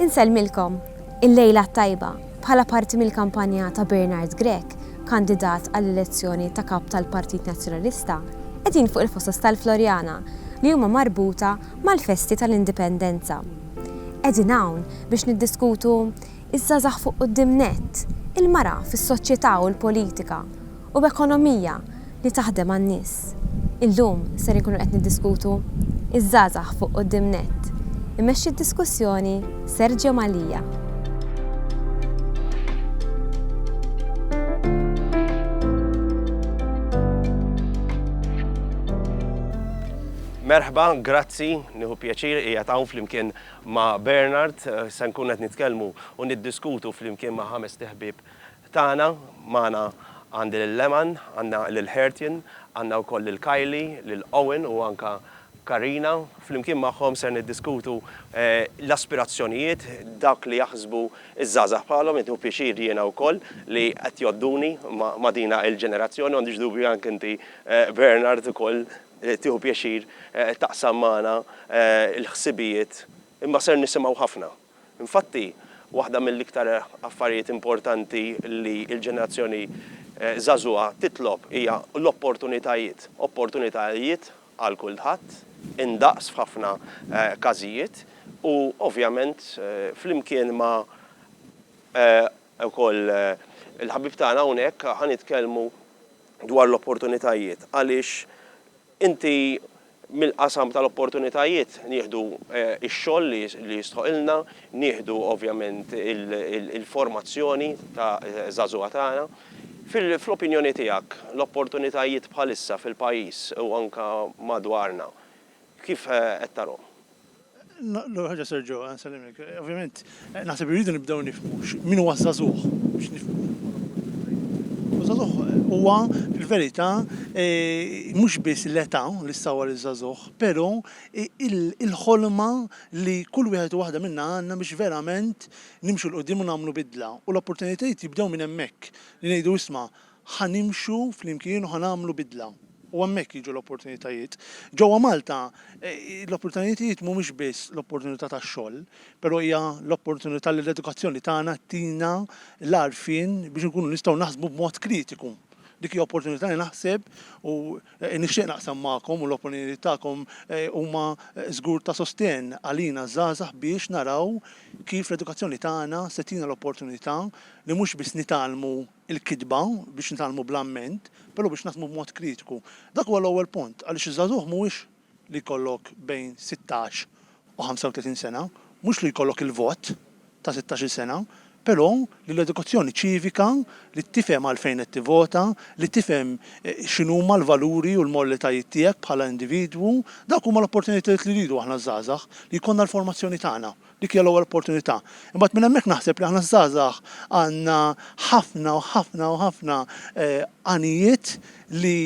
Insellmilkom, il-lejla t-tajba, bħala parti mill-kampanja ta' Bernard Grech, kandidat għall-elezzjoni ta' Kap tal-Partit Nazzjonalista, qegħdin fuq il-fosos tal-Floriana li huma marbuta mal-festi tal-Indipendenza. Qegħdin hawn biex niddiskutu ż-żgħażagħ fuq quddiem nett, il-mara fis-soċjetà u l-politika, u ekonomija li taħdem għan-nies. Illum ser inkunu qed niddiskutu Iż-żgħażagħ fuq quddiem nett. Imexxi d-diskussjoni Sergio Mallia. Merħba, grazzi, nieħu pjaċir qiegħed hawn flimkien ma' Bernard. Se nkun qed nitkellmu u niddiskutu flimkien ma' ħamest iħbieb Tagħna, magħna għandi lil Leman, għandna lil Hertien, għandna wkoll lil Kylie, lil Owen u anke Karina. Flimkien magħhom ser niddiskutu l-aspirazzjonijiet, dak li jaħsbu ż-żgħażagħ bħalhom, qed nieħu pjaċir jiena wkoll li qed jgħodduni ma' din il-ġenerazzjoni, u m'għandix dubju anke inti Bernard ukoll tieħu pjaċir taqsam magħna l-ħsibijiet, imma ser nisimgħu ħafna. Infatti, waħda mill-iktar affarijiet importanti li l-ġenerazzjoni żagħżugħa titlob hija l-opportunitajiet. Opportunitajiet għal kulħadd, indaqs f'ħafna każijiet u ovvjament flimkien ma' wkoll il-ħabib tagħna hawnhekk ħa nitkellmu dwar l-opportunitajiet għaliex Inti mill-qasam tal-opportunitajiet nieħdu x-xogħol li jistħoqilna, nieħdu ovvjament il-formazzjoni ta' żagħżugħa tagħna. Fl-opinjoni tiegħek l-opportunitajiet bħalissa fil-pajjiż u anke madwarna kif qed tarhom? L-ewwel ħaġa Serġo, nsellimlek. Ovvjament, naħseb irridu nibdew nifhmu min huwa żagħżugħ biex nifhmu. Żagħżugħ huwa l-verità e, mhux biss l-età li sawar iż-żagħżugħ, però il-ħolma li kull wieħed u waħda minna għandna biex verament nimxu 'l quddiem u nagħmlu bidla. U l-opportunitajiet jibdew minn hemmhekk, li ngħidu isma' Ħa nimxu flimkien u ħa nagħmlu bidla. U hemmhekk jiġu l-opportunitajiet. Ġewwa Malta, l-opportunitajiet mhumiex biss l-opportunità tax-xogħol, però hija l-opportunità li l-edukazzjoni tagħna ttina l-għarfien biex inkunu nistgħu naħsbu b'mod kritiku. Dik hija opportunità li naħseb u nixtieq naqsam magħkom u l-opinjonijiet tagħkom huma żgur ta' sostenn għalina ż-żgħażagħ biex naraw kif l-edukazzjoni tagħna se ttina l-opportunità li mhux biss nitgħallmu il-kitba biex nitgħallmu bl-amment, però biex naħdmu b'mod kritiku. Dak huwa l-ewwel punt, għaliex iż-żagħżugħ mhuwiex li jkollok bejn sittax u ħamsa u tletin sena, mhux li jkollok il-vot ta' sittax-il sena, però li l-edukazzjoni ċivika, li tifhem għalfejn qed tivvota, li tifhem x'inhuma l-valuri u l-morlitajiet tiegħek bħala individwu, dawk huma l-opportunitajiet li rridu aħna ż-żgħażagħ, li jkollna l-formazzjoni tagħna. Dik hija l-ewwel opportunità. Imbagħad minn hemmhekk naħseb li aħna ż-żgħażagħ għandna ħafna u ħafna u ħafna għanijiet li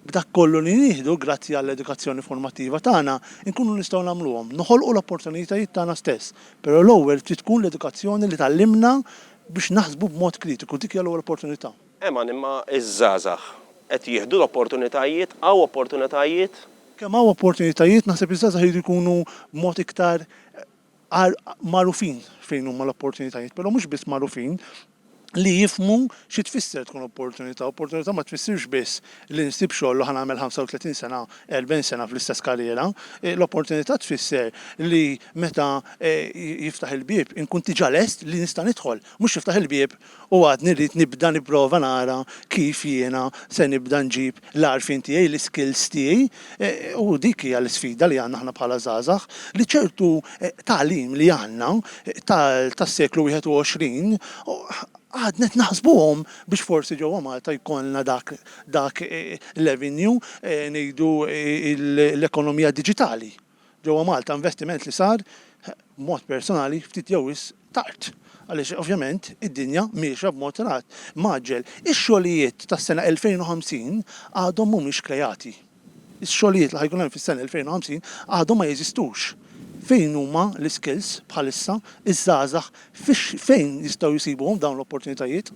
b'dak kollu li nieħdu, grazzi għall-edukazzjoni formattiva tagħna, inkunu nistgħu nagħmluhom. Noħolqu l-opportunitajiet tagħna stess, però l-ewwel trid tkun l-edukazzjoni li tgħallimna biex naħsbu b'mod kritiku. Dik hija l-ewwel opportunità. Eman imma ż-żgħażagħ qed jieħdu l-opportunitajiet? Hawn opportunitajiet? Kemm hawn opportunitajiet, naħseb iż-żgħażagħ iridu jkunu b'mod iktar magħrufin fejn huma l-opportunitajiet, però mhux biss magħrufin, li jifhmu xi tfisser tkun opportunità. Opportunità ma tfissirx biss li nsib xogħol u ħa nagħmel 35 sena, 40 sena fl-istess karriera. L-opportunità tfisser li meta jiftaħ il-bieb inkun diġà lest li nista' nidħol, mhux jiftaħ il-bieb, u għadni rrid nibda nipprova nara kif jiena se nibda nġib l-għarfien tiegħi, l-iskills tiegħi, u dik hija l-isfida li għandna aħna bħala żgħażagħ, li ċertu tagħlim li għandna tas-seklu 21 għadna qed naħsbuhom biex forsi ġewwa Malta jkollna dak l-avenue, ngħidu l-ekonomija diġitali. ġewwa Malta, investiment li sar, b'mod personali, ftit jew wisq tard, għaliex ovvjament id-dinja miexja b'mod mgħaġġel. Ix-xogħlijiet tas-sena 2050 għadhom mhumiex kreati. Ix-xogħlijiet li ħa jkun hemm fis-sena 2050 għadhom ma jeżistux. Fejn huma l-iskills bħalissa, iż-żgħażagħ Fejn jistgħu jsibuhom dawn l-opportunitajiet?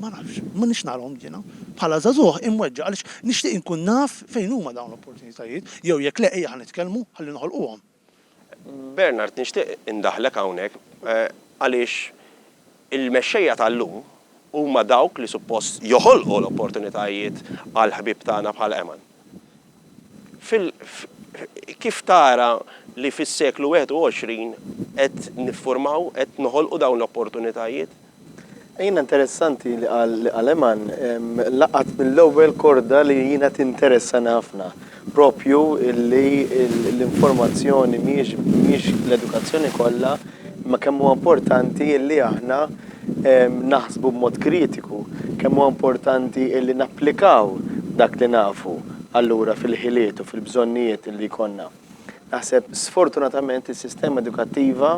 Ma nafx. Ma nix narhom jiena. Bħala żagħżugħ imweġġa' għaliex nixtieq inkun naf fejn huma dawn l-opportunitajiet jew jekk le ejja ħa nitkellmu ħalli noħolquhom. Bernard nixtieq indaħħlek hawnhekk għaliex il-mexxejja tal-lum huma dawk li suppost joħolqu l-opportunitajiet għall-ħbieb tagħna bħal Eman. Fil. Kif tara li fis-seklu 21 qed nifformaw, qed noħolqu dawn l-opportunitajiet? Jiena interessanti li qal li qal Eman, laqat mill-ewwel korda li jiena tinteressani ħafna, proprju li l-informazzjoni mhijiex mhijiex l-edukazzjoni kollha, imma kemm huwa importanti li aħna, naħsbu b'mod kritiku, kemm huwa importanti li napplikaw dak li nafu allura fil-ħiliet u fil-bżonnijiet li jkollna. Naħseb sfortunatament is-sistema edukattiva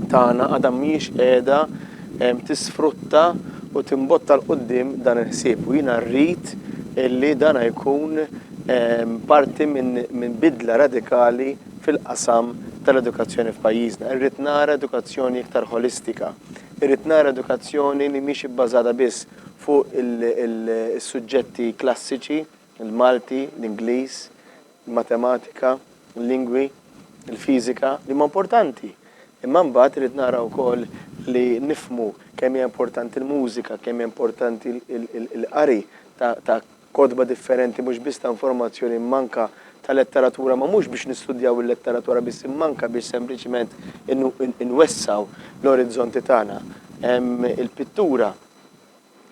tagħna għadha mhijiex qiegħda tisfrutta u timbotta 'l quddiem dan il-ħsieb u jiena rrid li dan jkun parti minn bidla radikali fil-qasam tal-edukazzjoni f'pajjiżna. Irrid nara edukazzjoni iktar ħolistika. Irrid nara edukazzjoni li mhix ibbażata biss fuq is-suġġetti klassiċi, il-Malti, l-Ingliż, il-Matematika, il-Lingwi, il-Fiżika, li huma importanti. Imma mbagħad irrid nara wkoll li nifhmu kemm hija importanti l-mużika, kemm hija importanti l-qari ta' kotba differenti mhux biss ta' informazzjoni imma anke ta' letteratura ma mhux biex nistudjaw il-letteratura biss imma anke biex sempliċement inwessgħu l-orizzonti tagħna. Il-pittura,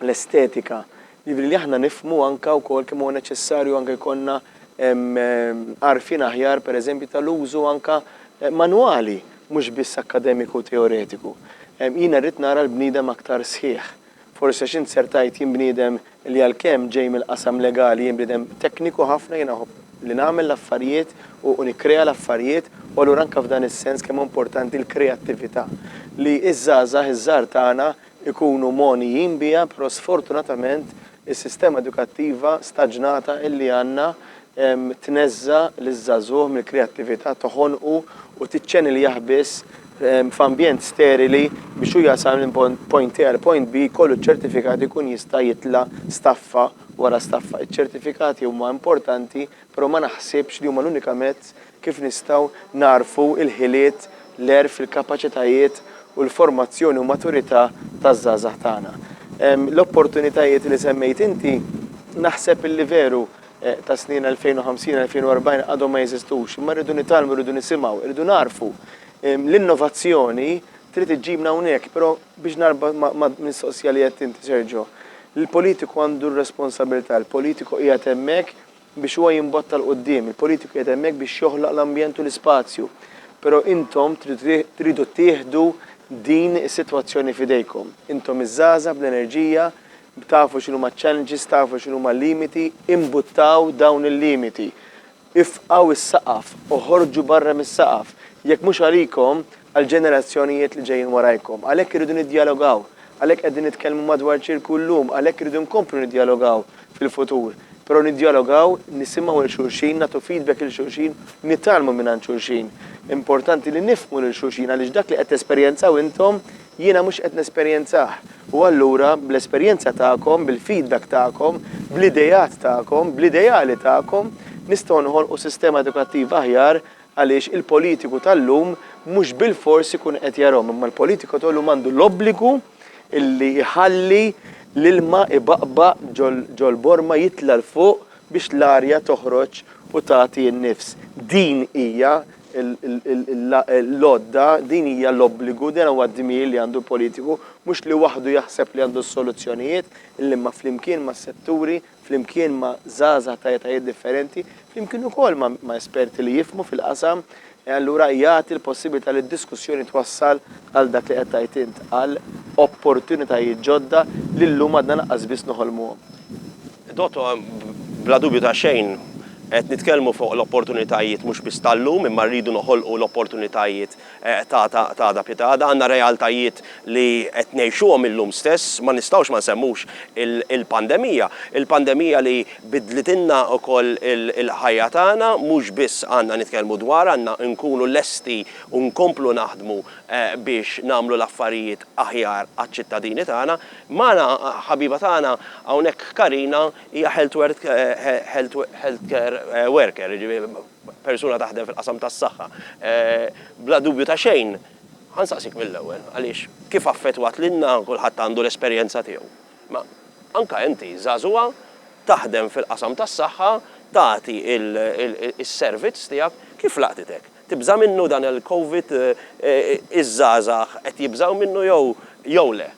l-estetika, jiġifieri li aħna nifhmu anke wkoll kemm huwa neċessarju anke jkollna għarfien aħjar pereżempju tal-użu anke manwali mhux biss akkademiku u teoretiku. Jiena rrid nara l-bniedem aktar sħiħ. Forsi għax int ser tgħid jien bniedem li għalkemm ġej mill-qasam legali jien bniedem tekniku ħafna, jiena nħobb li nagħmel l-affarijiet u nikkrea l-affarijiet u allura anke f'dan is-sens kemm hu importanti l-kreattività li ż-żgħażagħ iż-żgħar tagħna jkunu mogħnijin biha però sfortunatament is-sistema edukattiva staġnata illi għandna tneżża' liż-żagħżugħ mill-kreattività, toħonqu u tiċċeniljah biss f'ambjent sterili biex hu jasal minn point A għal point B jkollu ċ-ċertifikat ikun jista' jitla' staffa wara staffa. Iċ-ċertifikati huma importanti però ma naħsibx li huma l-unika mezz kif nistgħu nagħrfu l-ħiliet, l-għerf, il-kapaċitajiet u l-formazzjoni u maturità taż-żgħażagħ tagħna. L-opportunitajiet li semmejt inti naħseb li veru, tas-snin 2050, 2040 għadhom ma jeżistux, imma rridu nitgħallmu, rridu nisimgħu, rridu nagħrfu. L-innovazzjoni trid iġġibna hawnhekk, però biex narbot mal-mistoqsija li għedt inti, Sergio, il-politiku għandu r-responsabilità, il-politiku qiegħed hemmhekk biex huwa jimbotta 'l quddiem, il-politiku qiegħed hemmhekk biex joħloq l-ambjent u l-ispazju, però intom tridu tieħdu din is-sitwazzjoni f'idejkom. Intom iż-żgħażagħ bl-enerġija, Tafu x'inhuma ċ-challenges, tafu x'inhuma l-limiti, imbuttaw dawn il-limiti. Ifqgħu s-saqaf, oħorġu barra mis-saqaf, jekk mhux għalikom, għall-ġenerazzjonijiet li ġejjin warajkom. Għalhekk irridu niddjalogaw, għalhekk qegħdin nitkellmu madwar ċirku llum, għalhekk irridu nkomplu niddjalogaw fil-futur. Però niddjalogaw, nisimgħu lil xulxin, nagħtu feedback lil xulxin, nitgħallmu mingħand xulxin. Importanti li nifhmu lil xulxin għaliex dak li qed tesperjenzaw intom Jiena mhux qed nesperjenzah. U allura, bl-esperjenza tagħkom, bil-feedback tagħkom, bl-ideat tagħkom, bl-ideali tagħkom, nistgħu noħolqu sistema edukattiva aħjar għaliex il-politiku tal-lum mhux bilfors ikun qed jarahom imma l-politiku tal-lum għandu l-obbligu li jħalli l-ilma jbaqbaq ġol-borma jitla' 'l fuq biex l-arja toħroġ u tagħti n-nifs. Din hija l-għodda, din hija l-obbligu, dan huwa d-dmir li għandu l-politiku, mhux li waħdu jaħseb li għandu s-soluzzjonijiet, l-imma flimkien mas-setturi, flimkien ma' żgħażagħ ta' etajiet differenti, flimkien ukoll ma' esperti li jifhmu fil-qasam, allura jagħti l-possibilità li d-diskussjoni twassal għal dak li qed tgħid int, għal opportunitajiet ġodda li llum għadna lanqas biss noħolmuhom. Dottor, Bla dubju ta' xejn, qed nitkellmu fuq l-opportunitajiet mhux biss tal-lum imma rridu noħolqu l-opportunitajiet ta' għada pied għada. Għandna realtajiet li qed ngħixuhom illum stess, ma nistgħux ma nsemmux il-pandemija. Il-pandemija li biddlitilna wkoll il-ħajja tagħna, mhux biss għandna nitkellmu dwarha, għandna nkunu lesti u nkomplu naħdmu biex nagħmlu l-affarijiet aħjar għaċ-ċittadini tagħna. Magħna ħabiba tagħna hawnhekk Karina hija health work health care worker, jiġifieri persuna taħdem fil-qasam tas-saħħa. Bla dubju ta' xejn, ħa nsaqsik mill-ewwel, għaliex kif affettwat lilna, kulħadd għandu l-esperjenza tiegħu, imma anke inti żagħżugħa taħdem fil-qasam tas-saħħa, tagħti s-servizz tiegħek, kif laqtitek? Tibża' minnu dan il-Covid? Iż-żgħażagħ qed jibżgħu minnu jew jew le?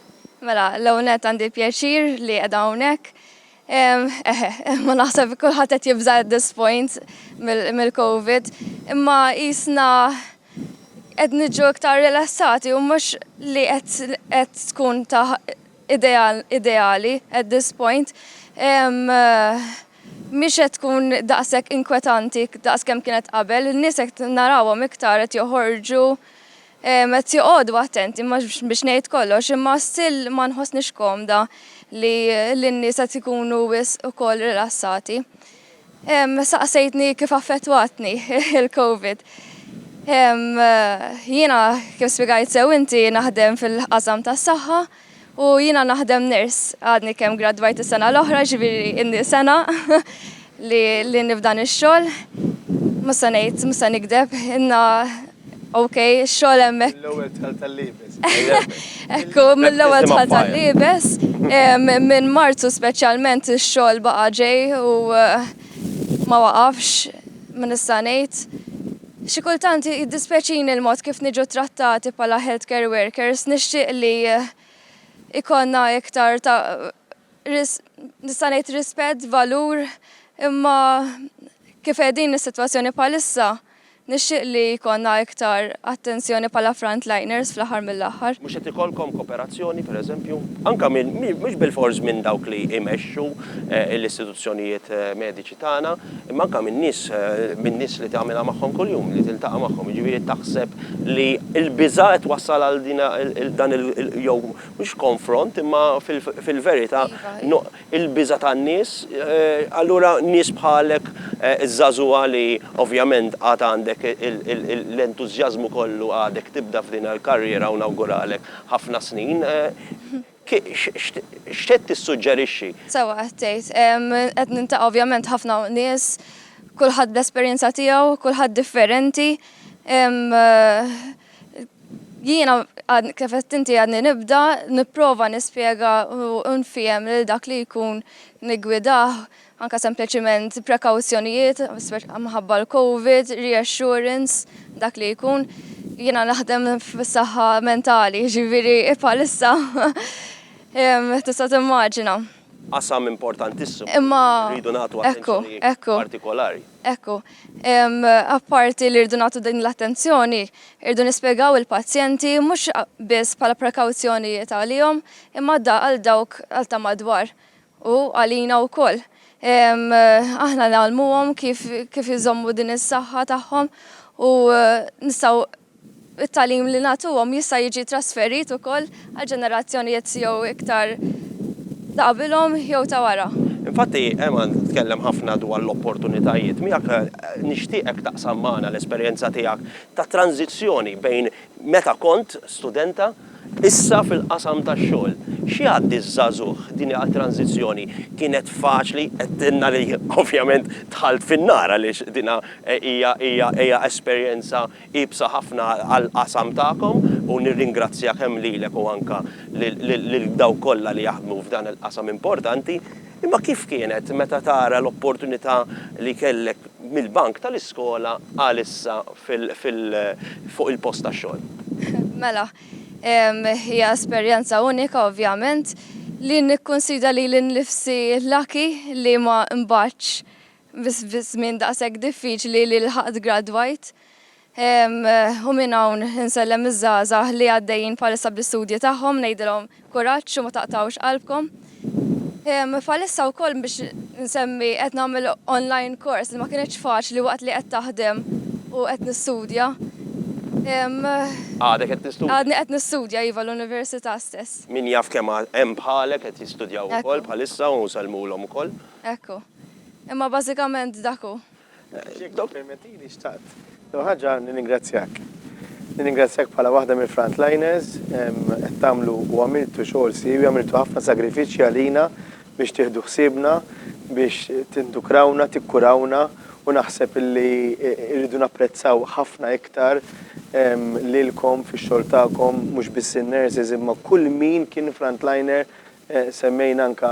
Mela, l-ewwel nett għandi l-pjaċir li qiegħda hawnhekk. Eħe, imma naħseb kulħadd qed jibża' at this point mill-Covid, imma qisna qed niġu iktar rilassati u mhux li qed qed tkun ta' idea ideali at this point. mhix qed tkun daqshekk inkwetanti daqs kemm kienet qabel, in-nies qed narawhom iktar qed joħorġu, qed joqogħdu attenti, mhux biex ngħid kollox, imma still ma nħossnix komda li li n-nies qed ikunu wisq ukoll rilassati. Saqsejtni kif affettwatni il-Covid. Jiena kif spjegajt sew inti naħdem fil-qasam tas-saħħa, U jiena naħdem nurse, għadni kemm gradwajt is-sena l-oħra, ġifieri inni sena li li nifdan ix-xogħol. Mhux se ngħid, mhux se nikdeb, inna ok, ix-xogħol hemmhekk. Mill-ewwel dħalt tal-liebes. Ekku, mill-ewwel dħalt tal-liebes. Minn Marzu speċjalment ix-xogħol baqa' ġej u ma waqafx, min nista' ngħid. Xi kultant jiddispjaċini l-mod kif niġu ttrattati bħala healthcare workers, nixtieq li jkollna iktar ta' nista' ngħid rispett, valur, imma kif qegħdin is-sitwazzjoni bħalissa nixtieq li jkollna iktar attenzjoni bħala frontliners fl-aħħar mill-aħħar. Mhux qed ikollkom koperazzjoni, per eżempju, anke minn mhux bilfors minn dawk li jmexxu l-istituzzjonijiet mediċi, tagħna, imma anke min-nies, min-nies li tagħmilha magħhom kuljum, li tiltaqa' magħhom. Jiġifieri taħseb li l-biża' qed twassal għal din dan il jew mhux konfront imma fil-verità il-biża' tan-nies, allura nies bħalek iż-żagħżugħa li ovvjament għad għandek l-entużjażmu kollu għadek tibda f'din il-karriera u nawguralek ħafna snin. X'qed tissuġġerixxi? Sewwa qed tgħid. Qed niltaqa' ovvjament ħafna nies, kulħadd bl-esperjenza tiegħu, kulħadd differenti. Jiena kif qed inti għadni nibda nipprova nispjega u nfiehem lil dak li jkun niggwidah anke sempliċiment prekawzjonijiet minħabba l-Covid, reassurance, dak li jkun. Jiena naħdem fis-saħħa mentali, jiġifieri bħalissa tista' timmaġina. Qasam importantissimu li rridu nagħtu attenzjoni partikolari. Ekku, apparti li rridu nagħtu din l-attenzjoni, irridu nispjegaw il-pazjenti mhux biss bħala prekawzjonijiet għalihom, imma għal dawk ta' madwar. U għalina wkoll. Aħna ngħallmuhom kif kif iżommu din is-saħħa tagħhom u nistgħu it-tagħlim li nagħtuhom jista' jiġi trasferit ukoll għal ġenerazzjonijiet jew iktar ta' qabilhom jew ta' wara. Infatti, Eman tkellem ħafna dwar l-opportunitajiet. Miegħek nixtieqek taqsam magħna l-esperjenza tiegħek ta' tranżizzjoni bejn meta kont studenta, Issa fil-qasam tax-xogħol, x'jgħaddi ż-żagħżugħ? Din hi għall-tranżizzjoni. Kienet faċli, għedtilna li ovvjament dħalt fin-nar għaliex din hija esperjenza iebsa ħafna għall-qasam tagħkom u nirringrazzja kemm lilek u anke lil dawk kollha li jaħdmu f'dan il-qasam importanti. Imma kif kienet meta tara l-opportunità li kellek mill-bank tal-iskola għal issa fuq il-post tax-xogħol? Mela, hija esperjenza unika ovvjament, li nikkunsida lili nnifsi lucky li ma nbagħtx fi żmien daqshekk diffiċli li lħaqt gradwajt. U minn hawn insellem liż-żgħażagħ li għaddejjin bħalissa bl-istudji tagħhom, ngħidilhom kuraġġ u ma taqtgħux qalbkom. Bħalissa wkoll biex nsemmi qed nagħmel online course li ma kinitx faċli waqt li qed taħdem u qed nistudja. Għadek qed tistudja? Għadni qed nistudja iva l-università stess. Min jaf kemm hemm bħalek qed jistudjaw ukoll bħalissa u nsellmulhom ukoll. Hekk hu. Imma bażikament dak hu. Jekk tippermettili xtaqt l-ewwel ħaġa nirringrazzjak. Nirringrazzjak bħala waħda mill-frontliners, qed tagħmlu u għamiltu xogħol siewi, għamiltu ħafna sagrifiċċji għalina biex tieħdu ħsiebna, biex tindukrawna, tikkurawna u naħseb illi rridu napprezzaw ħafna iktar lilkom fix-xogħol tagħkom, mhux biss in-nurses imma kull min kien frontliner Semmejna anke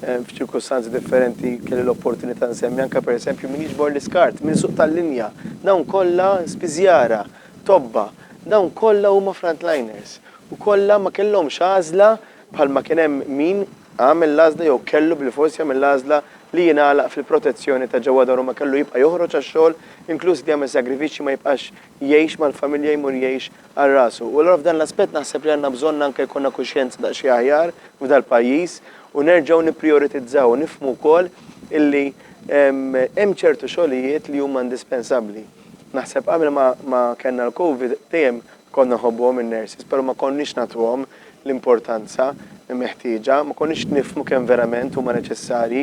f'ċirkustanzi differenti, kelli l-opportunità nsemmi anke pereżempju min jiġbor l-iskart minn suq tal-linja. Dawn kollha spiżjara, tobba, dawn kollha huma frontliners u kollha ma kellhomx għażla bħalma kien hemm min għamel l-għażla jew kellu bilfors jagħmel l-għażla li jingħalaq fil-protezzjoni ta' ġewwa daru ma kellu jibqa' joħroġ għax-xogħol, inkluż li jagħmel sagrifiċċji ma jibqax jgħix mal-familja jmur jgħix għal rasu. U allura f'dan l-aspett naħseb li għandna bżonn anke jkollna kuxjenza daqsxejn aħjar f'dal-pajjiż u nerġgħu nipprijoritizzaw u nifhmu wkoll illi hemm ċertu xogħlijiet li huma indispensabbli. Naħseb qabel ma kellna l-Covid dejjem konna nħobbuhom in-nurses però ma konniex nagħtuhom l-importanza meħtieġa, ma konniex nifhmu kemm verament huma neċessarji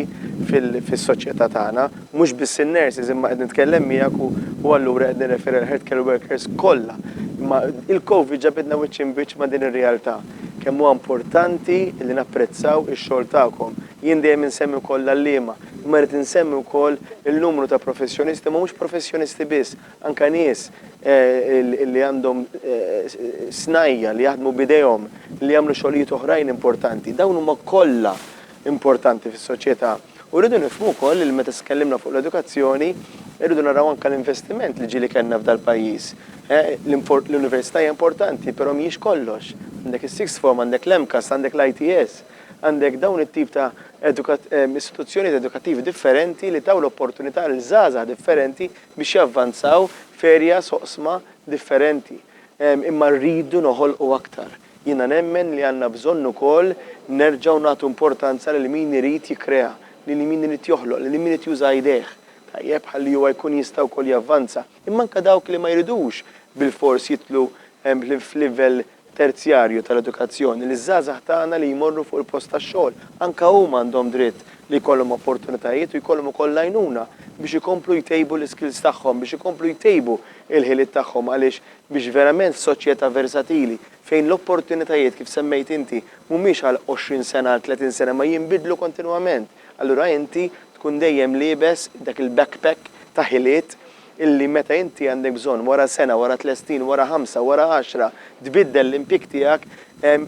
fis-soċjetà tagħna. Mhux biss in-nurses, imma qed nitkellem miegħek u allura qed nirreferi għall-healthcare workers kollha. Imma il-Covid ġabidna wiċċ imbiċċ ma' din ir-realtà. Kemm huwa importanti li napprezzaw ix-xogħol tagħkom. Jien dejjem insemmi wkoll l-għalliema, imma rrid insemmi wkoll il-numru ta' professjonisti, imma mhux professjonisti biss, Anke nies li għandhom snajja', li jaħdmu b'idejhom, li jagħmlu xogħlijiet oħrajn importanti, dawn huma kollha importanti fis-soċjetà. U rridu nifhmu wkoll li meta tkellimna fuq l-edukazzjoni, irridu naraw anke l-investiment li ġieli kellna f'dal-pajjiż. L-università hija importanti, però mhijiex kollox. Għandek is-sixth form, għandek l-MCAS, għandek l-ITS, għandek dawn it-tip ta' istituzzjonijiet edukattivi differenti li taw l-opportunità lil żgħażagħ differenti biex javvanzaw f'areas, oqsma, differenti. Imma rridu noħolqu aktar. Jiena nemmen li għandna bżonn ukoll nerġgħu nagħtu importanza lil min irid jikkrea, lil min irid joħloq, lil min irid juża idejh, tajjeb, ħalli huwa jkun jista' wkoll javvanza. Imma anke dawk li ma jridux bilfors jidħlu f'livell terzjarju tal-edukazzjoni liż-żgħażagħ tagħna li jmorru fuq il-post tax-xogħol. Anke huma għandhom dritt li jkollhom opportunitajiet u jkollhom ukoll l-għajnuna biex ikomplu jtejbu l-iskills tagħhom, biex ikomplu jtejbu l-ħiliet tagħhom għaliex biex verament f'soċjetà versatili fejn l-opportunitajiet kif semmejt inti mhumiex għal għoxrin sena għal tletin sena imma jinbidlu kontinwament allura inti tkun dejjem liebes dak il-backpack ta' ħiliet illi meta inti għandek bżonn, wara sena, wara tliet snin, wara ħamsa, wara għaxra, tbiddel l-impjieg tiegħek,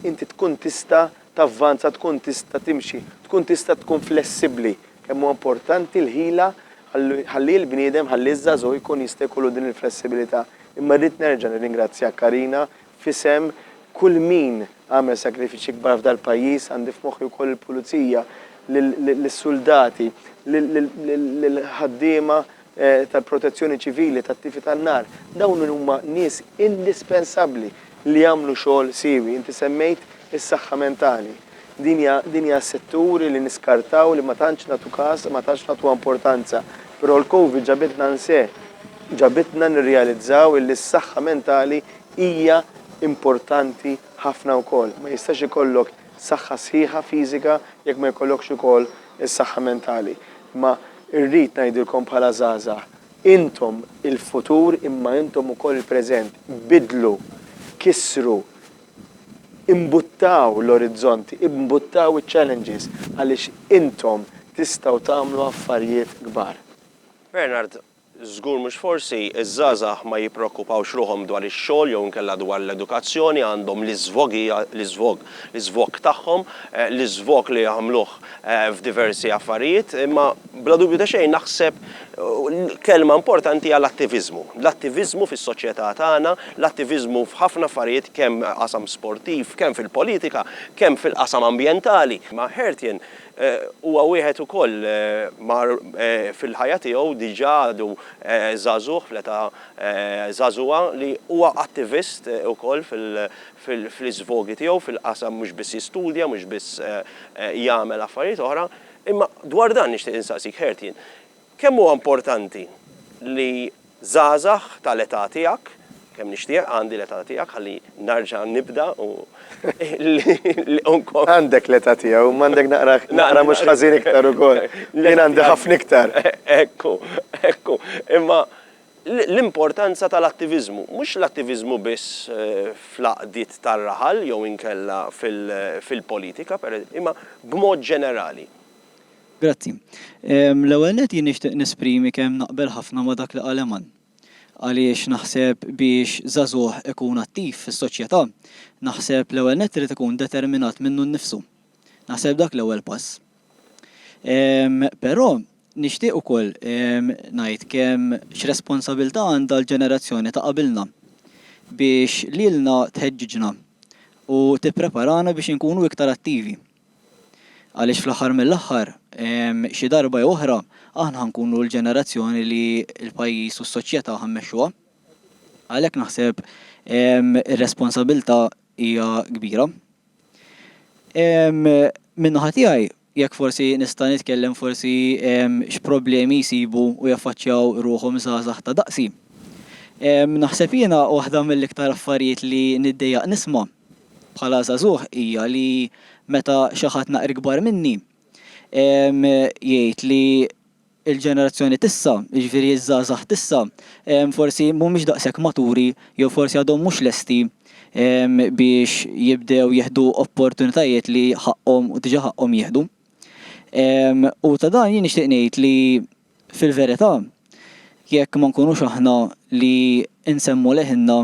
inti tkun tista' tavvanza, tkun tista' timxi, tkun tista' tkun flessibbli. Kemm huwa importanti l-ħila ħalli l-bniedem, ħalli ż-żagħżugħ ikun jista' jkollu din il-flessibilità. Imma rrid nerġa' nirringrazzjak Karina f'isem kull min għamel sagrifiċċji kbar f'dal-pajjiż, għandi f'moħħi wkoll il-pulizija, lis-suldati, lill-ħaddiema, tal-Protezzjoni Ċivili, tat-tifi tan-nar, dawn huma nies indispensabbli li jagħmlu xogħol siewi. Inti semmejt is-saħħa mentali. Din hija din hija settur li niskartaw, li ma tantx nagħtu kas, ma tantx nagħtuha importanza. Però l-Covid ġabitna nse, ġabitna nirrealizzaw illi s-saħħa mentali hija importanti ħafna wkoll. Ma jistax ikollok saħħa sħiħa fiżika jekk ma jkollokx ukoll is-saħħa mentali. Imma rrid ngħidilkom bħala żgħażagħ, intom il-futur imma intom ukoll il-preżent. Biddlu, kissru, imbuttaw l-orizzonti, imbuttaw iċ-challenges għaliex intom tistgħu tagħmlu affarjiet kbar. Bernard, Żgur mhux forsi, iż-żgħażagħ ma jippreokkupawx ruħhom dwar ix-xogħol jew inkella dwar l-edukazzjoni, għandhom l-iżvogija, l-iżvog, l-iżvog tagħhom, l-iżvog li jagħmluh f'diversi affarijiet, imma bla dubju ta' xejn naħseb kelma importanti hija l-attiviżmu. L-attiviżmu fis-soċjetà tagħna, l-attiviżmu f'ħafna affarijiet kemm qasam sportiv, kemm fil-politika, kemm fil-qasam ambjentali. Ma' Hertien, Huwa wieħed ukoll mar fil-ħajja tiegħu diġà għadu żagħżugħ fl-età żagħżugħa li huwa attivist ukoll fl-iżvogi tiegħu fil-qasam mhux biss jistudja mhux biss jagħmel affarijiet oħra. Imma dwar dan nixtieq insaqsik Hertien, Kemm huwa importanti li żgħażagħ tal-età tiegħek, kemm nixtieq għandi l-età tiegħek ħalli narġa' nibda u nkompli. Għandek l-età tiegħu, imma għandek naqra, naqra mhux ħażin iktar ukoll. Jien għandi ħafna iktar. Ekku, ekku. Imma l-importanza tal-attiviżmu, mhux l-attiviżmu biss fl-għaqdiet tar-raħal jew inkella fil-politika, imma b'mod ġenerali. Grazzi. L-ewwel nett jien nixtieq nesprimi kemm naqbel ħafna ma' dak li qal Eman. Għaliex naħseb biex żagħżugħ ikun attiv fis-soċjetà, naħseb l-ewwel nett irid ikun determinat minnu nnifsu. Naħseb dak l-ewwel pass. Però nixtieq ukoll ngħid kemm x'responsabiltà għandha l-ġenerazzjoni ta' qabilna biex lilna tħeġġiġna u tippreparana biex inkunu iktar attivi. Għaliex fl-aħħar mill-aħħar, xi darba jew oħra, aħna ħa nkunu l-ġenerazzjoni li l-pajjiż u s-soċjetà ħa mmexxuha. Għalhekk naħseb ir-responsabilità hija kbira. Min-naħa tiegħi, jekk forsi nista' nitkellem forsi x'problemi jsibu u jaffaċċjaw ruħhom żgħażagħ ta' daqsi. Naħseb jiena waħda mill-iktar affarijiet li niddejjaq nisma' bħala żagħżugħ hija li meta xi ħadd naqra ikbar minni jgħid li l-ġenerazzjoni t'issa, jiġifieri ż-żgħażagħ t'issa, forsi mhumiex daqshekk maturi jew forsi għadhom mhux lesti biex jibdew jieħdu opportunitajiet li ħaqqhom u diġà ħaqqhom jieħdu. U ta' dan jien nixtieq ngħid li, Fil-verità, jekk ma nkunux aħna li nsemmu leħinna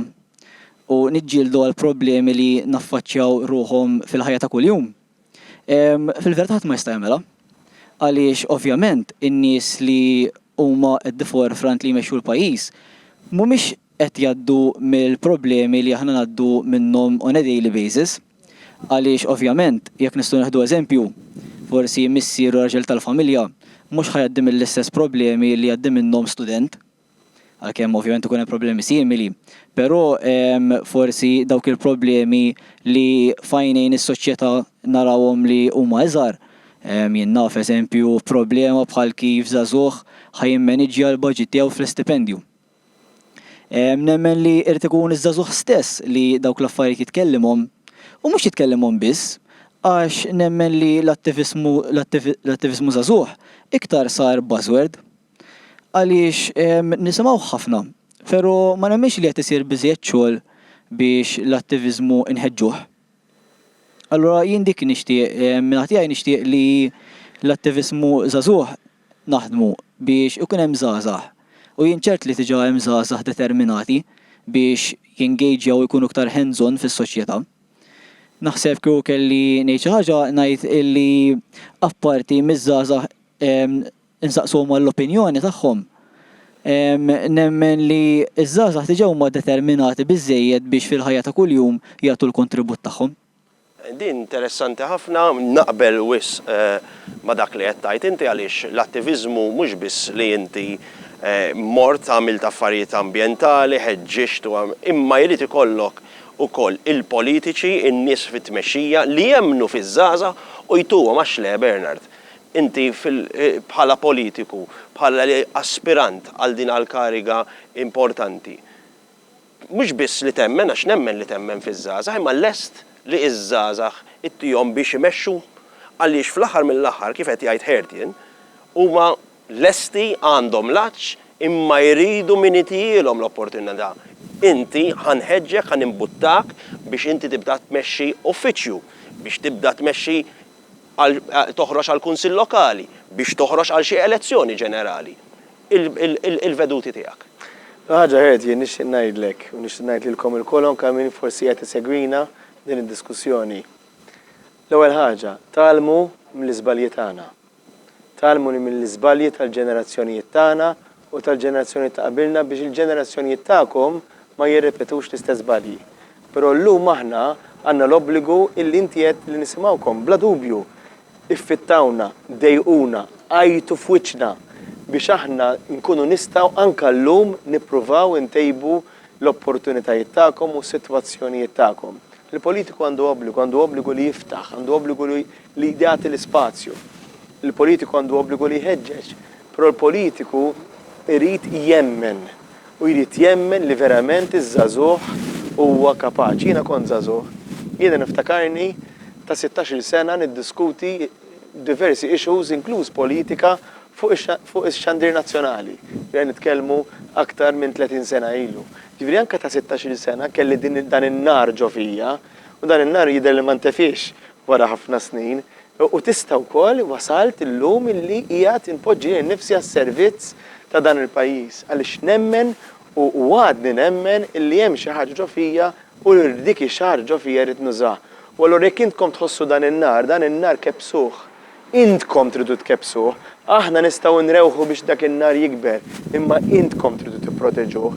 u niġġieldu għall-problemi li naffaċċjaw ruħhom fil-ħajja ta' kuljum, fil-verità ħadd ma jista' jagħmilha. Għaliex, ovvjament, in-nies li huma at the forefront li jmexxu l-pajjiż mhumiex qed jgħaddu mill-problemi li aħna ngħaddu minnhom on a daily basis għaliex ovvjament jekk nistgħu nieħdu eżempju forsi missier u raġel tal-familja mhux ħa jgħaddi mill-istess problemi li jgħaddi minnhom student għalkemm ovvjament ikun hemm problemi simili però forsi dawk il-problemi li f'għajnejn is-soċjetà narawhom li huma iżgħar jien naf eżempju problema bħal kif żagħżugħ ħa jimmaniġġja l-budget tiegħu fl-istipendju Nemmen li irid ikun iż-żagħżugħ stess li dawk l-affarijiet jitkellimhom, u mhux jitkellimhom biss, għax nemmen li l-attiviżmu l-attiviżmu żagħżugħ iktar sar buzzword. Għaliex nisimgħuh ħafna, pero' ma nemminx li qed isir biżżejjed xogħol biex l-attiviżmu nħeġġuh. Allura jien dik nixtieq, minn naħa tiegħi nixtieq li l-attiviżmu żagħżugħ naħdmu biex ikun hemm żgħażagħ u jien ċert li diġà hemm żgħażagħ determinati biex jengejġjaw u jkunu iktar hands on fis-soċjetà. Naħseb kieku kelli ngħid xi ħaġa ngħid illi apparti miż-żgħażagħ insaqsuhom għall-opinjoni tagħhom. Nemmen li ż-żgħażagħ diġà huma determinati biżżejjed biex fil-ħajja ta' kuljum jagħtu l-kontribut tagħhom. Din interessanti ħafna, naqbel wisq ma' dak li qed tgħid inti għaliex l-attiviżmu mhux biss li inti mort għamilt affarijiet ambjentali, ħeġġiġt u imma jrid ikollok ukoll il-politiċi, in-nies fit-tmexxija li jemmnu fiż-żgħażagħ u jtuhom għax le Bernard? Inti bħala politiku, bħala aspirant għal din għall-kariga importanti, mhux biss li temmen, għax nemmen li temmen fiż-żgħażagħ, imma lest li ż-żgħażagħ ittihom biex imexxu? Għaliex fl-aħħar mill-aħħar, kif qed jgħid Hertien, huma lesti, għandhom l-għatx, imma jridu min itihielhom l-opportunità. Inti, ħa nħeġġek, ħa nimbuttawk biex inti tibda tmexxi uffiċċju, biex tibda tmexxi, għal toħroġ għall-Kunsill Lokali, biex toħroġ għal xi elezzjoni ġenerali, il-veduti tiegħek. Ħaġa ħed jien nixtieq ngħidlek u nixtieq ngħid lilkom ilkoll u anke għal min forsi qed isegwina f'din id-diskussjoni. L-ewwel ħaġa, tgħallmu mill-iżbalji tagħna. Tgħallmu mill-iżbalji tal-ġenerazzjonijiet tagħna u tal-ġenerazzjonijiet ta' qabilna biex il-ġenerazzjonijiet tagħkom ma jirrepetux l-istess żbalji. Però llum aħna għandna l-obbligu illi inti għedt li nisimgħukom. Bla dubju, iffittawna, dejquna, għajtu f'wiċċna biex aħna nkunu nistgħu anke llum nippruvaw intejbu l-opportunitajiet tagħkom u s-sitwazzjonijiet tagħkom. Il-politiku għandu obbligu, għandu obbligu li jiftaħ, għandu obbligu li jagħti l-ispazju. Il-politiku għandu obbligu li jħeġġeġ. Però l-politiku jrid jemmen u jrid jemmen li verament iż-żagħżugħ huwa kapaċi. Jiena kont żagħżugħ. Jiena niftakarni ta' sittax-il sena niddiskuti diversi issues inkluż politika fuq ix-xandir nazzjonali. Qed nitkellmu aktar minn tletin sena ilu. Jiġifieri anke ta' sittax-il sena kelli dan in-nar ġo fija u dan in-nar jidher li ma ntefiex. wara ħafna snin, u tista' wkoll wasalt illum illi qiegħed inpoġġi lili nnifsi għas-servizz ta' dan il-pajjiż, għaliex nemmen u għadni nemmen illi hemm xi ħaġa ġo fija u dik ix-xi ħaġa ġo fija rrid nużaha. U allura jekk intkom tħossu dan in-nar, dan in-nar kebbsuh, Intkom tridu tkebbsuh. Aħna nistgħu nrewħu biex dak in-nar jikber, imma intkom tridu tipproteġuh.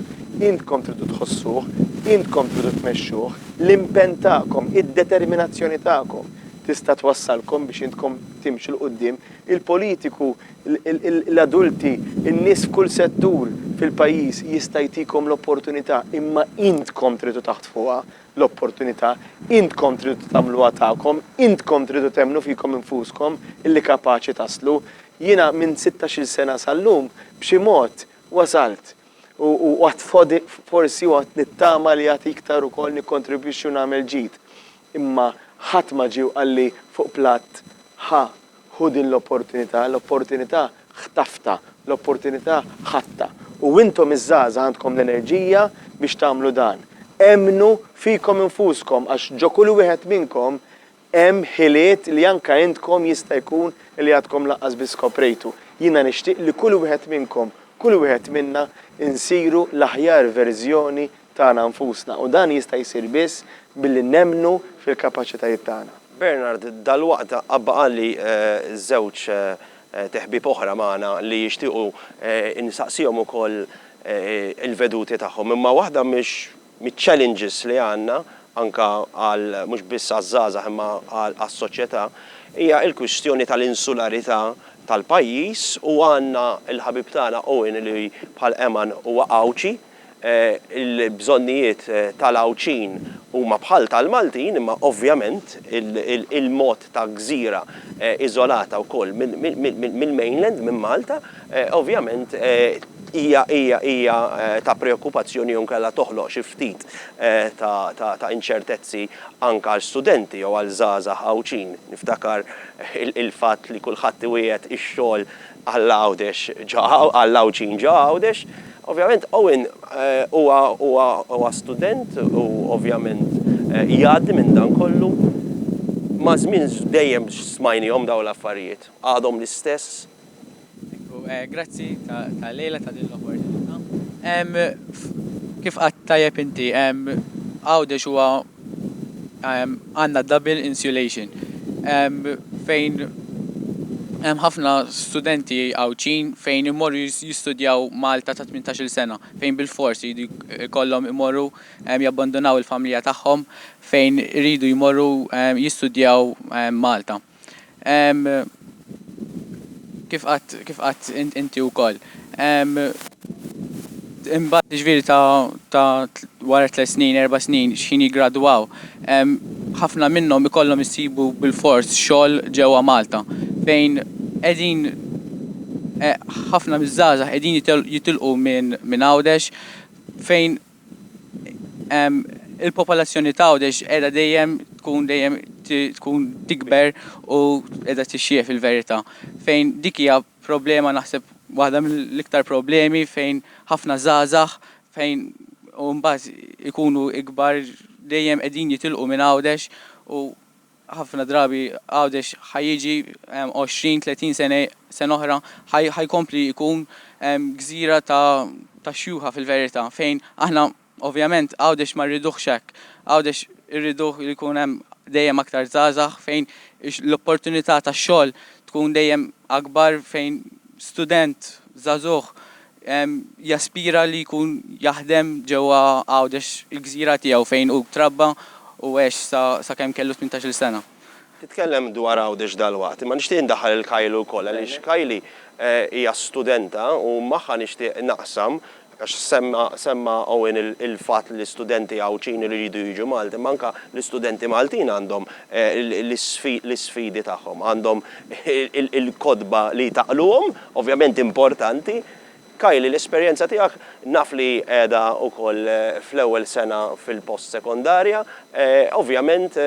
Intkom tridu tħossuh. Intkom tridu tmexxuh. L-impenn tagħkom, id-determinazzjoni tagħkom tista' twassalkom biex intkom timxu 'l quddiem. Il-politiku, l-adulti, in-nies f'kull settur fil-pajjiż jista' jtikom l-opportunità, imma intkom tridu taħtfuha. l-opportunità, intkom tridu tagħmluha tagħkom, intkom tridu temmnu fikom infuskom illi kapaċi taslu. Jiena minn sittax-il sena sal-lum b'xi mod wasalt u għad fod forsi u għad nittama li għad iktar ukoll nikkontribwixxi u nagħmel ġid. Imma ħadd ma ġie u qalli fuq platt, Ħa Ħu din l-opportunità, l-opportunità ħtaftha, l-opportunità ħadtha. U intom iż-żgħażagħ għandkom l-enerġija biex tagħmlu dan. Emmnu fikom infuskom għax ġo kull wieħed minnkom hemm ħiliet li anke intkom jista' jkun li għadkom lanqas biss skoprejtu. Jiena nixtieq li kull wieħed minnkom, kull wieħed minna nsiru l-aħjar verżjoni tagħna nfusna u dan jista' jsir biss billi nemmnu fil-kapaċitajiet tagħna. Bernard dalwaqt abqagħli żewġ teħbieb oħra magħna li jixtiequ nsaqsihom ukoll il-veduti tagħhom. Imma waħda miċ-challenges li għandna anke għal mhux biss għaż-żgħażagħ imma għas-soċjetà hija l-kwistjoni tal-insularità tal-pajjiż u għandna l-ħabib tagħna Owen li bħal Eman huwa Għawdxi. Il-bżonnijiet tal-Għawdxin huma bħal tal-Maltin imma ovvjament il-mod ta' gżira iżolata wkoll mill-mainland, minn Malta, ovvjament hija ta' preokkupazzjoni jew inkella toħloq xi ftit ta' inċertezzi anke għal studenti jew għal żgħażagħ Għawdxin. Niftakar il-fatt li kulħadd iwiegħed ix-xogħol Għal Għawdex ġo għal l-Għawdxin ġo Għawdex. Ovvjament Owen huwa huwa huwa student u ovvjament jgħaddi minn dan kollu. Maż-żmien dejjem smajniehom dawn l-affarijiet. Għadhom l-istess. Ekku, grazzi tal-lejla ta' din l-opportunità. Kif qatt tajjeb inti, Għawdex huwa għandna double insulation fejn hemm ħafna studenti Għawdxin fejn imorru jistudjaw Malta ta' tmintax-il sena fejn bilfors iridu jkollhom imorru jabbandunaw il-familja tagħhom fejn iridu jmorru jistudjaw Malta. Kif qatt kif qatt inti wkoll. Imbagħad jiġifieri ta' ta' wara tliet snin, erba' snin x'ħin jiggradwaw, ħafna minnhom ikollhom isibu bilfors xogħol ġewwa Malta fejn qegħdin ħafna miż-żgħażagħ qegħdin jitilqu minn Għawdex fejn Il-popolazzjoni ta' Għawdex qiegħda dejjem tkun dejjem tkun tikber u qiegħda tixjieħ fil-verità. Fejn dik hija problema naħseb waħda mill-iktar problemi fejn ħafna żgħażagħ fejn u mbagħad ikunu ikbar dejjem qegħdin jitilqu minn Għawdex u ħafna drabi Għawdex ħa jiġi 20, 30 sena, sena oħra, ħa jkompli jkun gżira ta' ta' xjuħa fil-verità fejn aħna ovvjament Għawdex ma rriduhx hekk. Għawdex irriduh li jkun hemm dejjem aktar żgħażagħ fejn l-opportunità tax-xogħol tkun dejjem akbar fejn student żagħżugħ Jaspira li jkun jaħdem ġewwa Għawdex, il-gżira tiegħu fejn hu trabba u għex sakemm kellu tmintax-il sena. Titkellem dwar Għawdex dalwaqt, imma nixtieq indaħħal lil Kylie wkoll għaliex Kylie hija studenta u magħha nixtieq naqsam, għax semma Owen il-fatt li studenti Għawdxin iridu jiġu Malta, imma anke l-istudenti Maltin għandhom l-isfidi tagħhom, għandhom il-kotba li jtaqqluhom, Ovvjament importanti. Kylie, l-esperjenza tiegħek naf li qiegħda wkoll fl-ewwel sena fil-post sekondarja. Ovvjament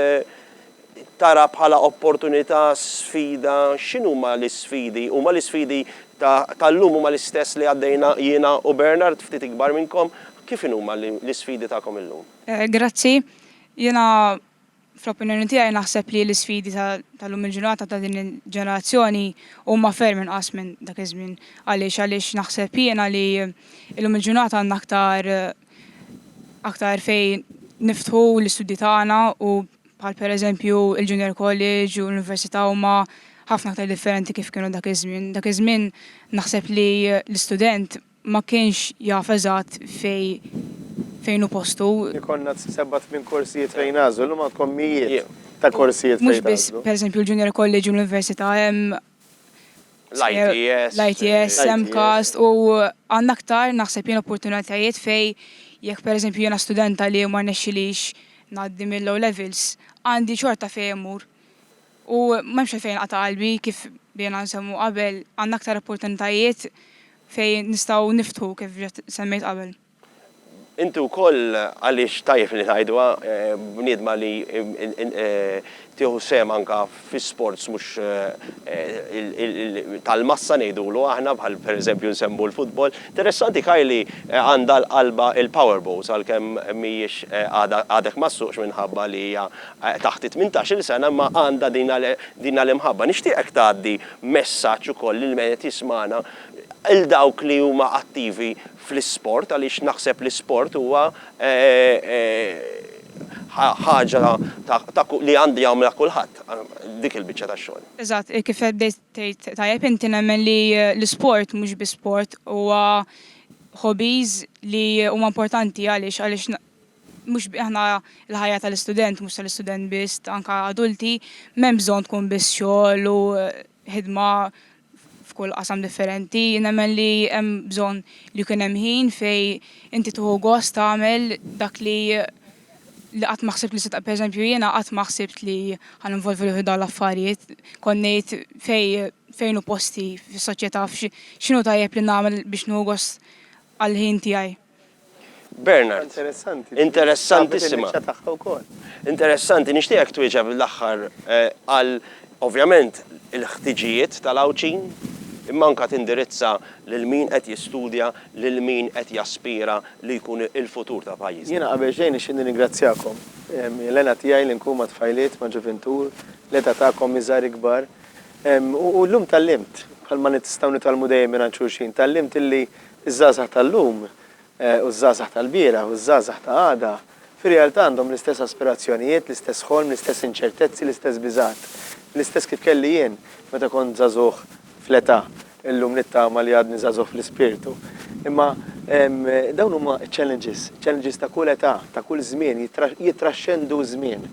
tara bħala opportunità, sfida, x'inhuma l-isfidi? Huma l-isfidi ta' tal-lum huma l-istess li għaddejna jiena u Bernard, ftit ikbar minnkom, kif inhuma l-isfidi tagħkom illum? Grazzi. Jiena Fl-opinjoni tiegħi naħseb li l-isfidi ta' lum il-ġurnata ta' din il-ġenerazzjoni huma ferm inqas minn dak iż-żmien. Għaliex għaliex naħseb jiena li lum il-ġurnata għandna aktar aktar fejn niftħu l-istudji tagħna u bħal pereżempju il-junior college u l-università huma ħafna aktar differenti kif kienu dak iż-żmien. Dak iż-żmien naħseb li l-istudent ma kienx jaf eżatt fejn hu postu. Ikollna sebgħa tmien korsijiet fejn nagħżlu, llum għandkom mijiet ta' korsijiet fejn tagħżlu. Mhux biss, per eżempju, l-Junior College u l-Università, hemm l-ITS, MCAST u għandna aktar naħseb jien opportunitajiet fejn jekk per eżempju jiena studenta li ma rnexxilix ngħaddi mill-O' Levels, għandi xorta fejn immur. U m'hemmx għalfejn inqata' qalbi kif bdejna nsemmu qabel, għandna aktar opportunitajiet. fejn nistgħu niftħu kif diġà semmejt qabel. Inti wkoll għaliex tajjeb li ngħiduha bniedma li tieħu sehem anke fi sports mhux tal-massa ngħidulu aħna bħal pereżempju nsemmu l-futbol. Interessanti Kay li għandha l-qalba il-powerboats għalkemm mhijiex għadha għadek ma ssuqx minħabba li hija taħt it-tmintax-il sena imma għandha din l-imħabba. Nixtieqek tgħaddi messaġġ ukoll lil min qed jismagħna, lil dawk li huma attivi fl-isport għaliex naħseb l-isport huwa ħaġa ta' li għandu jagħmilha kulħadd dik il-biċċa tax-xogħol. Eżatt, kif qed bdejt tgħid tajjeb inti nemmen li l-isport mhux biss sport huwa hobbies li huma importanti għaliex għaliex mhux aħna l-ħajja tal-istudent, mhux tal-istudent biss, anke adulti, m'hemm bżonn tkun biss xogħol u ħidma f'kull qasam differenti. Nemmen li hemm bżonn li jkun hemm ħin fej inti tuħu gost tagħmel dak li li qatt ma ħsibt li se ta' pereżempju jiena qatt ma ħsibt li ħan involvi ruħi dawn l-affarijiet. Konnejt fej fejn u posti fis-soċjetà x'inhu tajjeb li nagħmel biex nuħu gost għall-ħin tiegħi. Bernard. Interessanti. Interessantissima. Interessanti, nixtieqek twieġeb l-aħħar eh, għal ovvjament il-ħtiġijiet tal-Għawdxin, imma anka tindirizza lil min qed jistudja, lil min qed jaspira li jkun il-futur ta' pajjiżna. Jiena qabel xejn nixtieq nirringrazzjakom. Ehm, L-għena tiegħi li nkun ma' tfajliet, ma' ġuvintur, l-età tagħkom iżgħar ikbar. Ehm, u llum tallimt, bħalma nistgħu nitgħallmu dejjem mingħand xulxin, tallimt illi Iż-żgħażagħ tal-lum u ż-żgħażagħ tal-bieraħ u ż-żgħażagħ ta' għada fir-realtà għandhom l-istess aspirazzjonijiet, l-istess ħolm, l-istess inċertezzi, l-istess biżgħat. L-istess kif kelli jien meta kont żagħżugħ fl-età, illum nittama li għadni żagħżugħ fl-ispirtu. Imma dawn huma ċ-challenges, challenges ta' kull età, ta' kull żmien, jittraxxendu ż-żmien.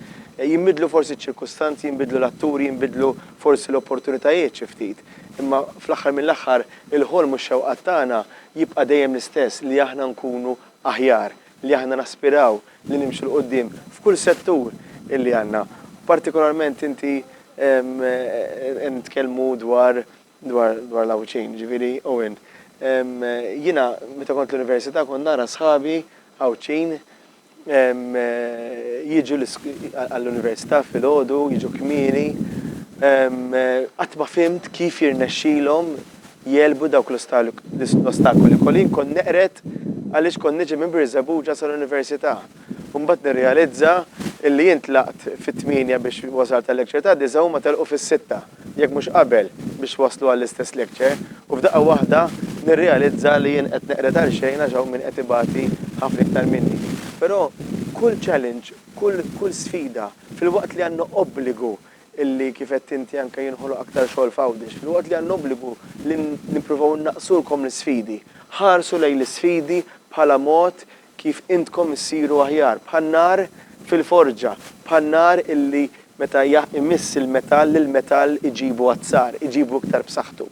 Jinbidlu forsi ċ-ċirkustanzi, jinbidlu l-atturi, jinbidlu forsi l-opportunitajiet xi ftit, imma fl-aħħar mill-aħħar, Il-ħolm u x-xewqat tagħna jibqa' dejjem l-istess, li aħna nkunu aħjar, li aħna naspiraw li nimxu 'l quddiem f'kull settur illi għandna. Partikolarment inti qed nitkellmu dwar dwar l-Għawdxin, jiġifieri Owen. Jiena meta kont l-Università kont nara sħabi Għawdxin, Jiġu għall-università filgħodu, jiġu kmieni. Qatt ma fhimt kif jirnexxilhom jegħlbu dawk l-ostakoli. Colleen kont neqred għaliex kont niġi minn Birżebbuġa sal-università. U mbagħad nirrealizza illi jien tlaqt fit-tmienja biex wasalt għal-lecture tad-disgħa u huma telqu fis-sitta. jekk mhux qabel, biex waslu għall-istess lecture, u f'daqqa waħda nirrealizza li jien qed neqred għal xejn għax hawn min qed ibati ħafna iktar minni. Però kull challenge, kull kull sfida, filwaqt li għandna obbligu li kif għedt inti anke jinħoloq aktar xogħol f'Għawdex, filwaqt li għandna obbligu li nippruvaw innaqsulkom l-isfidi, ħarsu lejn l-isfidi bħala mod kif intkom issiru aħjar, bħan-nar fil-forġa, bħan-nar illi meta imiss il-metall, il-metall iġibu azzar, iġibu iktar b'saħħtu.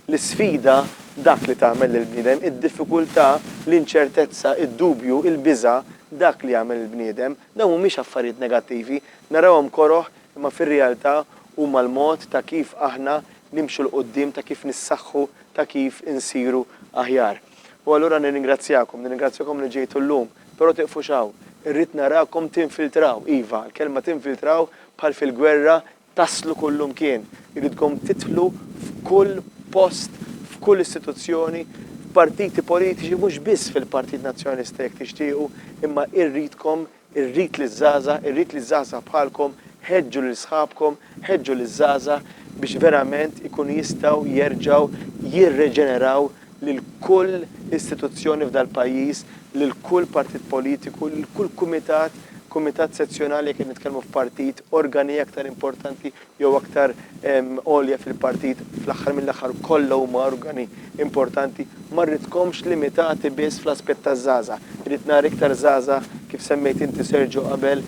L-isfida, dak li tagħmel lill-bniedem, id-diffikultà, l-inċertezza, id-dubju, il-biża', dak li jagħmel il-bniedem. Dawn mhumiex affarijiet negattivi, narawhom koroh imma fir-realtà huma l-mod ta' kif aħna nimxu 'l quddiem, ta' kif nissaħħu, ta' kif insiru aħjar. U allura nirringrazzjakom, nirringrazzjakom li ġejtu llum. Però tieqfux hawn. Irrid narakom tinfiltraw, iva, l-kelma tinfiltraw bħal fil-gwerra, taslu kullimkien. Irridkom tidħlu f'kull post, f'kull istituzzjoni, f'partiti politiċi, mhux biss fil-Partit Nazzjonalista jekk tixtiequ, imma irridkom Irrid liż-żgħażagħ, irrid li żgħażagħ bħalkom, ħeġġu lil sħabkom, ħeġġu liż-żgħażagħ biex verament ikunu jistgħu jerġgħu jirreġeneraw lil kull istituzzjoni f'dal-pajjiż, lil kull partit politiku, lil kull kumitat, kumitat sezzjonali jekk qed nitkellmu f'partit, organi aktar importanti, jew aktar għolja fil-partit, fl-aħħar mill-aħħar kollha huma organi importanti, ma rridkomx limitati biss fl-aspett taż-żgħażagħ. Irrid nara iktar żgħażagħ, kif semmejt inti Sergio qabel,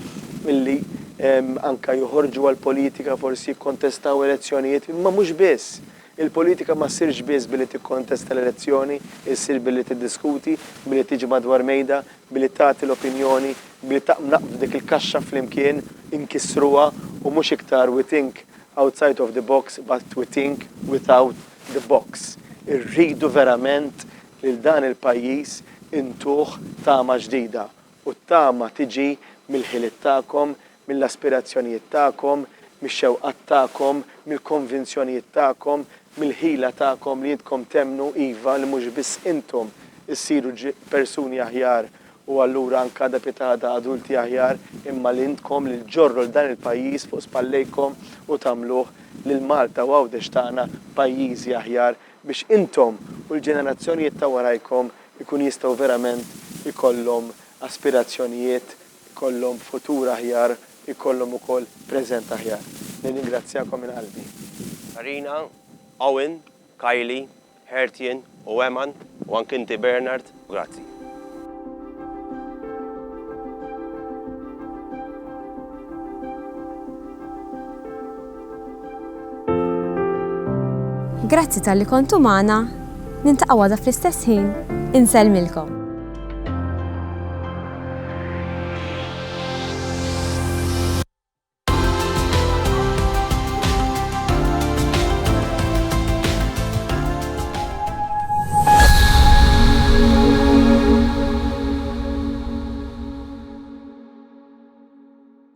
li anke joħorġu għall-politika, forsi jikkontestaw elezzjonijiet, imma mhux biss. Il-politika ma ssirx biss billi tikkontesta l-elezzjoni, issir billi tiddiskuti, billi tiġi madwar mejda, billi tagħti l-opinjoni, billi taqbdu dik il-kaxxa flimkien, inkissruha, u mhux iktar we think outside of the box but we think without the box. Irridu verament lil dan il-pajjiż intuh tama ġdida, u t-tama tiġi mill-ħiliet tagħkom, mill-aspirazzjonijiet tagħkom, mix-xewqat tagħkom, mill-konvinzjonijiet tagħkom, mill-ħila tagħkom li intkom temmnu, iva, li mhux biss intom issiru persuni aħjar u allura anke għada pietagħada adulti aħjar, imma li intkom li ġġorru 'l dan il-pajjiż fuq spallejkom u tagħmluh lil Malta u Għawdex tagħna pajjiżi aħjar biex intom u l-ġenerazzjonijiet ta' warajkom ikun jistgħu verament ikollhom aspirazzjonijiet ikollhom futur aħjar, ikollhom ukoll preżent aħjar. Nirringrazzjakom minn qalbi. Karina, Owen, Kylie, Hertien u Eman, u anki inti Bernard, grazzi. Grazzi talli kontu magħna, niltaqgħu għada fl-istess ħin, insellmilkom.